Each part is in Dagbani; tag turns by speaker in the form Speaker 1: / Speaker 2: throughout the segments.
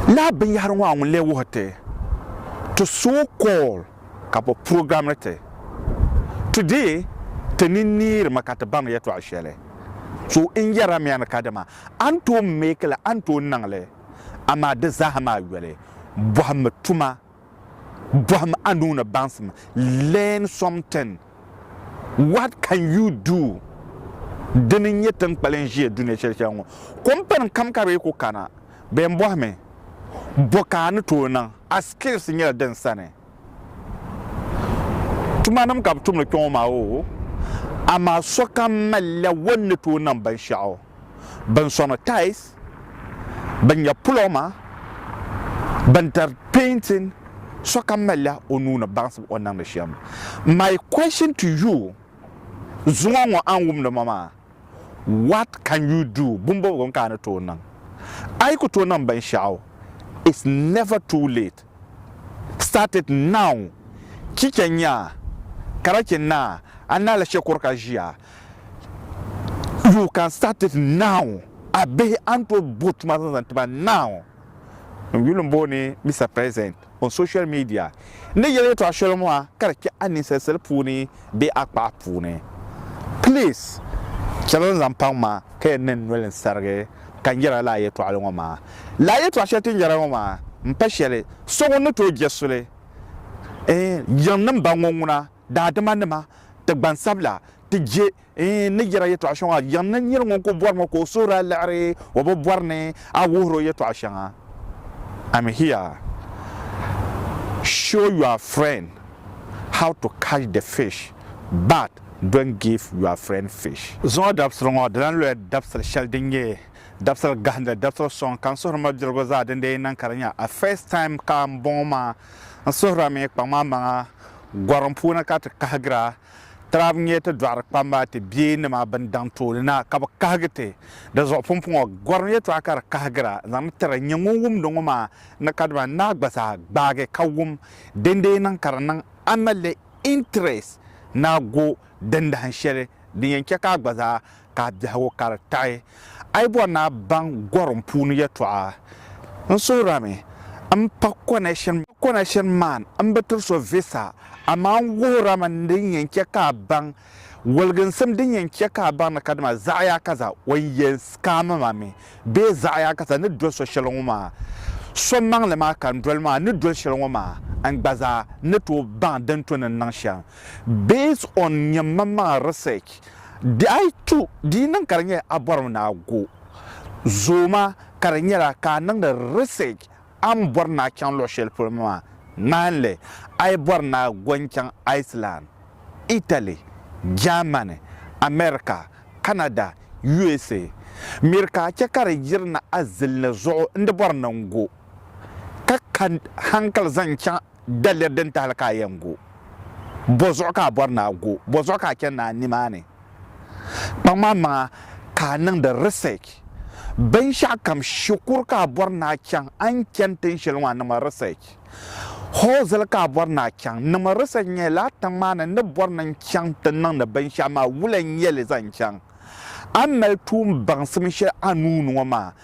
Speaker 1: Lala binyɛhiri ŋɔ a ŋun lee wuhi ti ti so call ka bɛ programiri ti. Today ti ni neeri mi ka ti baŋ yɛtɔɣ shɛli. So n yɛra mi a ni kadama a ni tooi make li a ni tooi niŋ li amaa di zaa ha maa yoli bɔhimmi tuma. Bɔhim a nuu ni baŋsim, learn something, what can you do? Dini n nyɛ tin kpalim ʒiya dunia shɛli shɛli ŋɔ. Kompani kam ka bɛ yi ku kana, bɛ yɛn bɔhi mi, Bɔ ka a ni tooi niŋ? A skills nyɛla din sani. Tumanim ka bɛ tumdi kpɛŋɔ maa oo, amaa sokam malila o ni tooi niŋ binshɛɣu. bin sɔŋ tais, bin nya pulɔma, bin dari pɛɛntin, sɔkam malila o nuu ni baŋsim o niŋdi shɛm. My question to you, zuŋɔ ŋɔ a ni wumdi ma maa, what can you do, bimbɔbigu n ka a ni tooi niŋ? A yi ku tooi niŋ binshɛɣu, it's never too late, start it now, chicha nyaa, karachi naa, a naala shɛkuru ka ʒiya, You can start it now A bihi a ni tooi bo tuma zaŋ zaŋ ti ba now N yuli n booni Mister President on social media N ni yeli yɛltɔɣa shɛli ŋɔ ha ka di kpɛh a ninsali sali puuni bee a kpaɣa puuni Please chɛli n zaŋ paŋ ma ka yɛn niŋ noli n sarigi ka n yɛra lala yɛltɔɣili ŋɔ maa Lala yɛltɔɣa shɛli ti ni yɛra ŋɔ maa m pa shɛli so ŋun ni tooi jɛ suli n yiŋ ni m ba ŋɔ ŋuna daadama nima, ti gbansabila, ti je n ni yɛra yɛtɔɣ shɛŋa yiɣi ni nir ŋun ku bɔrimi ka o suhuri a liɣiri o bi bɔri ni a wuhir o yɛtɔɣ shɛŋa. I'm here show your friend how to catch the fish but don't give your friend fish. Zuŋɔ dabisili ŋɔ di lan loya dabisili shɛli din nyɛ dabisili gahindili dabisili sɔŋ ka n suhiri mabilirigu zaa din dee niŋ ka di nyɛ a first time ka m bɔŋɔ maa n suhirila mi kpaŋmaŋmaŋa. Gɔrim puuni ka ti kahigira tiraab nyɛ ti dɔɣiri kpamba ti bia nima bɛn daŋ tooni na ka bɛ kahigi ti. Di zuɣu pumpɔŋɔ gɔrim yɛtɔɣa ka di kahigira zaŋ tiri nyɛ ŋun wumdi ŋɔ maa ni kadama n naai gba zaa gbaagi ka wum dindee niŋ ka di niŋ a ni le interest ni a go Dindahin shɛli din yɛn chɛ ka a gba zaa ka a biɛhigu ka di taɣi a yi bɔri ni a baŋ gɔrim puuni yɛtɔɣa. N suhirimi m-pa connection connection man m-bi tiri so visa, amaa n wuhirimi din yɛn chɛ ka a baŋ waliginsim din yɛn chɛ ka a baŋ ni kadama zaɣiyakasa o ni yɛn scam ma mi bee zaɣiyakasa ni doli so shɛli ŋɔ maa so maŋli maa ka n doli maa ni doli shɛli ŋɔ maa n gba zaa ni tooi baŋ din to ni n niŋ shɛm. Based on nyam mam maŋa research di ayi tu di niŋ ka di nyɛla a bɔrimi ni a go zooma ka di nyɛla ka a niŋdi research a ni bɔri ni a chaŋ luɣi shɛli polo maa ŋmahinli a yi bɔri ni a go n chaŋ Iceland, Italy, Germany, America, Canada, USA miri ka a chɛ ka di yiri ni a zilini zuɣu n di bɔri ni n go ka ka hankali zaŋ chaŋ Daliri din tahili ka a yɛn go? Bɔ zuɣu ka a bɔri ni a go? Bɔ zuɣu ka a chani ni a nimaani? Kpaŋmaŋmaŋa ka a niŋdi research binshɛɣukam. Shikuru ka a bɔri ni a chaŋ, a ni chani tin shɛli ŋɔ a niŋmi research. Hɔɔzili ka a bɔri ni a chaŋ, niŋmi research n-nyɛ lala tiŋ maa ni n ni bɔri ni n-chaŋ ti niŋdi binshɛɣu maa wula n-nyɛ li zaŋ chaŋ. A ni mali tuumbaŋsim shɛli a nuu ni ŋɔ maa,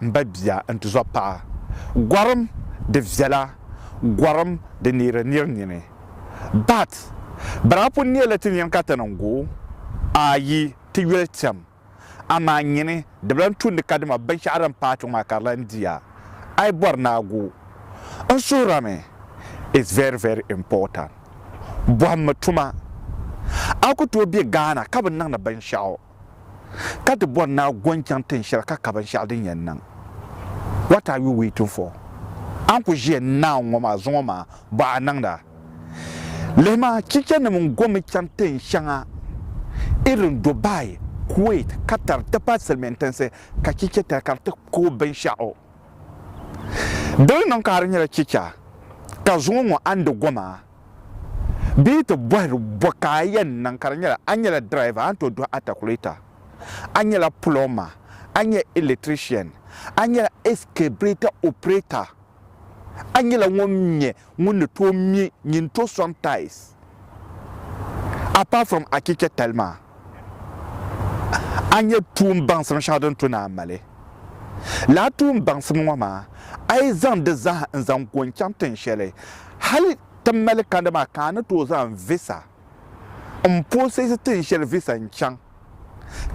Speaker 1: m ba bia n-tizɔb paɣa gɔrim di viɛla gɔrim di neeri nir nini. But bana pun neeli ti nini ka ti niŋ go a yi ti yoli tɛm amaa nyini di bi lan tumdi ka dama binshɛɣu din paai chuŋ maa ka di lan di a. A yi bɔri ni a go n suhurami is very very important. Bɔhimmi tuma a ku tooi be Ghana ka bi niŋdi binshɛɣu. ka ti bɔri ni a go n-chaŋ tin shɛli ka ka binshɛɣu din yɛn niŋ? What are you waiting for? A ni ku ʒiya naawuni ŋɔ maa zuŋɔ maa, bɔ a niŋda. Lihima, chichanim n-gomi chaŋ tin shɛŋa irin Dubai, Kuwait, Qatar ti pahi silimiin tinsi ka chicha tali ka di ti kooi binshɛɣu. Dini niŋ ka a di nyɛla chicha ka zuŋɔ ŋɔ a ni di go maa? Bee yi ti bɔhiri bɔ ka a yɛn niŋ ka di nyɛla, a nyɛla driver, a ni tooi duhi atakuleta, a nyɛla plumber, a nyɛla electrician, a nyɛla excavator operator, a nyɛla ŋun nyɛ ŋun ni tooi me nyin tooi sɔŋ tiles apart from a chichɛ tali maa. a nyɛ tuun baŋsim shɛŋa din tu ni a mali. Lala tuun baŋsim ŋɔ maa, a yi zaŋ di zaa n-zaŋ ku n-chaŋ tin shɛli hali ti mali kandi maa ka a ni tooi zaŋ visa m-process tin shɛli visa n-chaŋ.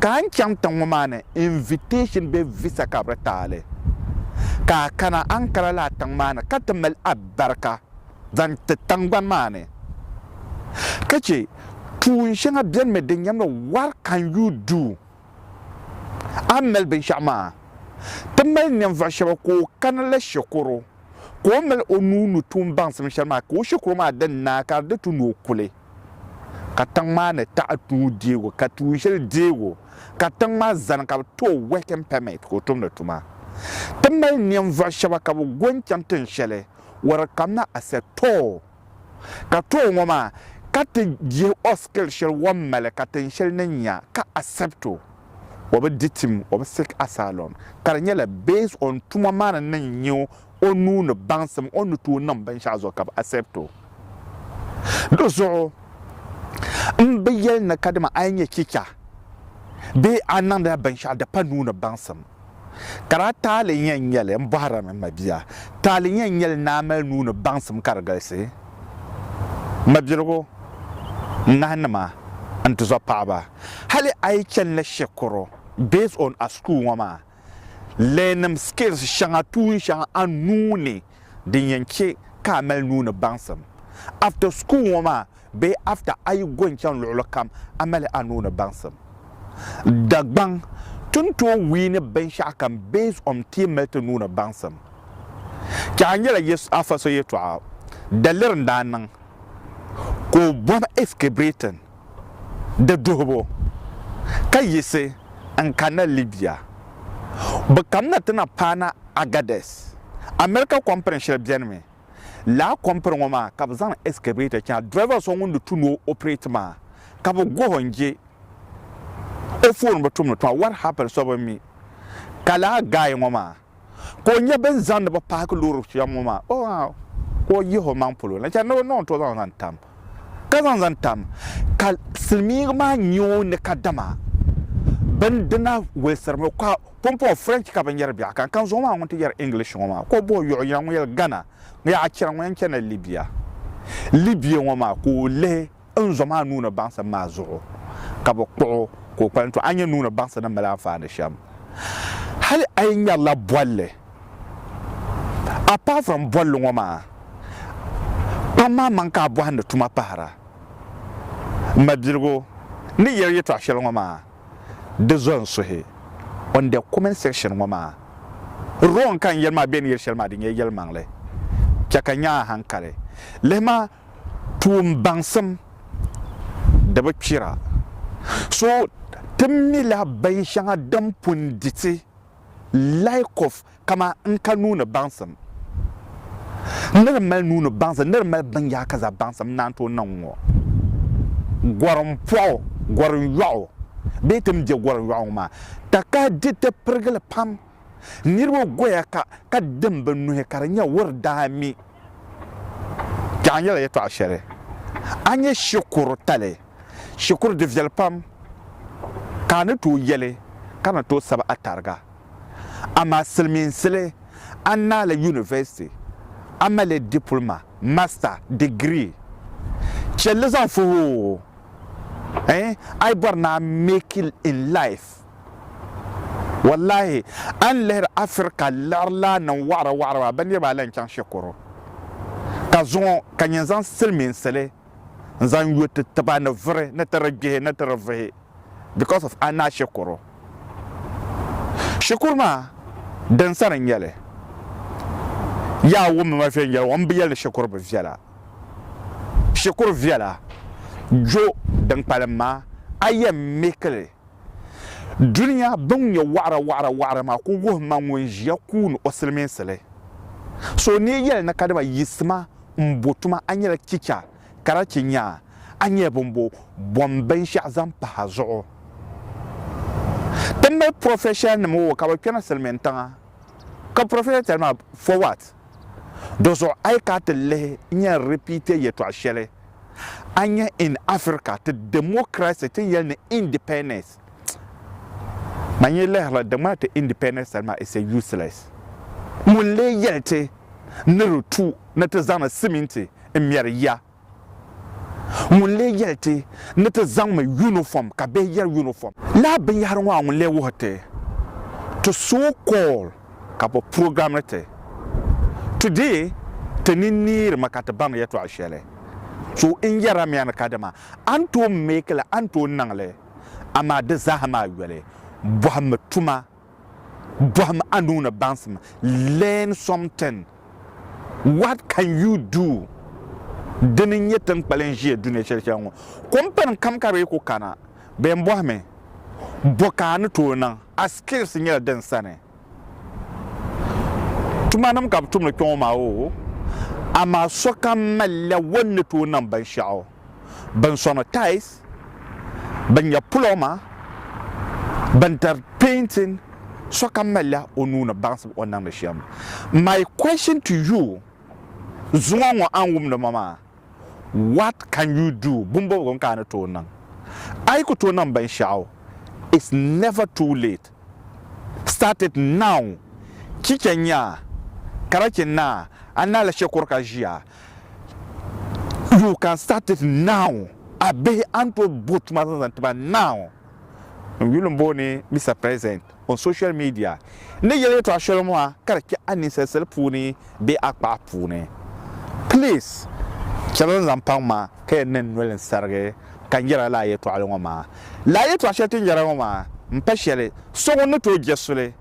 Speaker 1: Ka a ni chaŋ tiŋ ŋɔ maa ni invitation bee visa ka bɛ di ti a li, ka a kana Ankara lala tiŋ maa ni ka ti mali a barika zaŋ ti tiŋgbani maa ni ka chɛ Tuun shɛŋa beni mi din nyamla what can you do a ni mali binshɛɣu maa. Ti mali ninvuɣu shɛba ka o kana la shikuru ka o mali o nuu ni tuun baŋsim shɛli maa ka o shikuru maa di naai ka di di tu ni o kuli ka tiŋ maa ni taɣi nuu deebu ka tuun shɛli deebu ka tiŋ maa zani ka bi ti o working permit ka o tumdi tuma. Ti mali ninvuɣu shɛba ka bi go n-chaŋ tiŋ shɛli where it come not accept too. Ka too ŋɔ maa ka ti yihi o skill shɛli wɔn mali ka tin shɛli ni nya ka accept o o bi di tim o bi seek asylum ka di nyɛla based on tuma maa ni niŋ nya o nuu ni baŋsim o ni tooi niŋ binshɛɣu zuɣu ka bi accept o di zuɣu n bi yɛli ni kadama a yi nyɛ chicha bee a niŋdila binshɛɣu di pa nuu ni baŋsim Ka daa taali nyɛ n-nyɛli, m bɔhiri a mi, m mabia, taali nyɛ n-nyɛli ni a mali nuu ni baŋsim ka di galisi, m mabiligu, n nahinima, n tizɔr paɣiba. Hali a yi chani la shikuru, based on a school ŋɔ maa learning skills shɛŋa, tuun shɛŋa a nuu ni. din yɛn chɛ ka a mali nuu ni baŋsim. After school ŋɔ maa bee after a yi go n-chaŋ luɣili kam a mali a nuu ni baŋsim. Dagbaŋ, Ti ni tooi wiini binshɛɣu kam based on ti yi mali ti nuu ni baŋsim. Chɛ a ni yɛla afa so yɛtɔɣa, daliri n-daa niŋ ka o bɔbi escabrating di duhibu ka yiɣisi n-kanna Libya. Bɛ kamina ti na paana Agadez. America kɔmpini shɛli benimi. Lala kɔmpini ŋɔ maa ka bɛ zaŋ excavator chaŋ. Driver so ŋun di tu ni o operate maa ka bɛ guhi o n-je o phone bi tum ni tuma. What happened so bi mi ka lala guy ŋɔ maa. ka o nya bɛ ni zaŋdi ba paaki loori shɛm ŋɔ maa, o ŋ-aa, ka o yihi o maŋ polo na chani ni o niŋ n-tooi zaŋ zaŋ tam. Ka zaŋ zaŋ tam, ka silimiiŋga maa nya o ni ka dama bindina walisirimi ka pumpɔŋ French ka binyɛra biɛɣu kani, ka n zuɣu maa ŋun ti yɛri English ŋɔ maa, ka o bɔhi Yɔɣu yina ŋun yɛli Ghana, ŋun yɛli a chana ŋun yɛn chanila Libya, Libya ŋɔ maa ka o lihi. n zom a nuu ni baŋsim maa zuɣu, ka bi kpuɣ o ka o kpalim, tɔ a ni nya nuu ni baŋsim ni mali anfaani shɛm. Hali a yi ŋmɛrila bolli, apart from bolli ŋɔ maa, kpam maa maŋ ka a bɔhim ni tuma pahira. M mabiligu, n ni yɛli yɛtɔɣ shɛli ŋɔ maa, di zo n suhi on the comment section ŋɔ maa. Wrong ka n yɛli maa bee n ni yɛli shɛli maa di nyɛla yɛlimaŋli. Chɛ ka n nya a haŋkali. Lihima. Tuun baŋsim di bi kpira. So ti mi la bin shɛŋa din pun di ti lahi kɔf kama n ka nuuni baŋsim ni di mali nuuni baŋsim ni di mali bin yaa ka za baŋsim naan tooi niŋ ŋɔ. Gɔrim pɔɣu, gɔrim yɔɣu bee ti ni bɛ gɔrim yɔɣu ŋɔ maa takahi diriti pirigili pam. niriba goya ka ka dim bɛ nuhi ka di nyɛ wuri daa mi. Kpɛɣu nyɛla yɛtɔɣa shɛli a nyɛ shikuru tali shikuru di viɛli pam ka a ni tooi yɛli ka ni tooi sabi a tariga. Amaa silimiinsili a naai li yunivɛsiti a mali dipulima, masita, digirii chɛlli zaŋ fuhi o, eh, a yi bɔri ni a make it in life. Wallahi a ni lihiri Afirika liɣirlana ni waɣira waɣira maa, bɛ niriba ayi lahi chaŋ Shekoro ka zuŋɔ ka nyin zaŋ silimiinsili n zaŋ yo ti tiba ni vuri ni ti di gbihi ni ti di vuhi because of a naa Shekoro. Shikuru maa din sani n nyeli. Yaa wummi ma viɛnyela ŋɔ m bi yeli ni Shekoro bi viɛla. Shekoro viɛla. Jo din kpalim maa a yɛn mihikili. Dunia bɛn nyɛ wɔɣira wɔɣira wɔɣira maa ku wuhi ma ŋun ʒiya kuuni o silimiinsili. So neei yɛli ni kadama yiɣisi ma m-bo tuma a nyɛla chicha ka daa chɛ nyaa a nyɛla bɔmbo bom binshɛɣu zaŋ pahi a zuɣu. Ti mali professional nim o ka bɛ kpɛna silimiintiŋa ka professional tali maa for what? Dɔzuɣu a yi ka ti lihi n-nya repeat yɛtɔɣ shɛli a ni nya in Africa ti democracy ti yɛli ni independence. Man yi lihirila di ŋmaa ti independence sani maa it's a useless. Ŋun lee yɛli ti ni di tu ni ti zaŋdi siminti n-mɛri ya? Ŋun lee yɛli ti ni ti zaŋmi yunifom ka bihi yɛri yunifom? Lala binyɛhiri ŋɔ a ŋun lee wuhi ti ti so call ka bɔ program ni ti today ti ni neeri mi ka ti baŋ yɛtɔɣa shɛli so n yɛra mi a ni kadama a ni tooi make li a ni tooi niŋ li amaa di zaaha maa yoli bɔhimmi tuma Bɔhim a nuu ni baŋsim, learn something, what can you do? Dini n nyɛ tinkpalin ʒiya dunia shɛli shɛli ŋɔ. Kompani kam ka bɛ ku kana, bɛ yɛn bɔhi mi, bɔ ka a ni tooi niŋ? A skills nyɛla din sani. Tumanim ka bɛ tumdi kpɛŋɔ maa oo, amaa sokam malila o ni tooi niŋ binshɛɣu. bɛn sɔŋ tais, bɛn nya pulɔma, bɛn dari pɛintin, sokam malila o nuu ni baŋsim o ni niŋdi shɛm. My question to you, zuŋɔ ŋɔ a ni wumdi ma maa, what can you do, bimbɔbigu n ka a ni tooi niŋ? A yi ku tooi niŋ binshɛɣu, it's never too late, start it now, chicha nyaa, karachi naa, a naala shɛkuru ka ʒiya, You can start it now, a bihi a ni tooi bo tuma zaŋ zaŋ ti ba now. N yuli n booni Mister President on social media n ni yeli yɛltɔɣa shɛli ŋɔ ha ka di kpɛh a ninsali sali puuni bee a kpaɣa puuni. Please chɛli n zaŋ paŋ ma ka yɛn niŋ noli n sarigi ka n yɛra lala yɛltɔɣili ŋɔ maa. Lala yɛltɔɣa shɛli ti ni yɛra ŋɔ maa m pa shɛli so ŋun ni tooi jɛ suli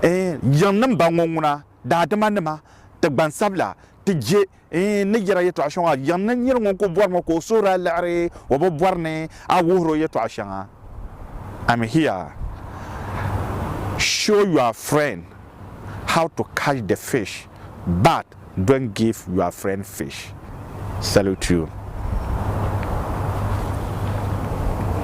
Speaker 1: n yiŋ niŋ ba ŋɔ ŋuna. daadama nima, ti gbansabila, ti je n ni yɛra yɛtɔɣ shɛŋa yiŋ ni nir ŋun ku bɔri mi ka o suhuri a liɣiri o bi bɔri ni a wuhir o yɛtɔɣ shɛŋa. I'm here show your friend how to catch the fish but don't give your friend fish. Salute you.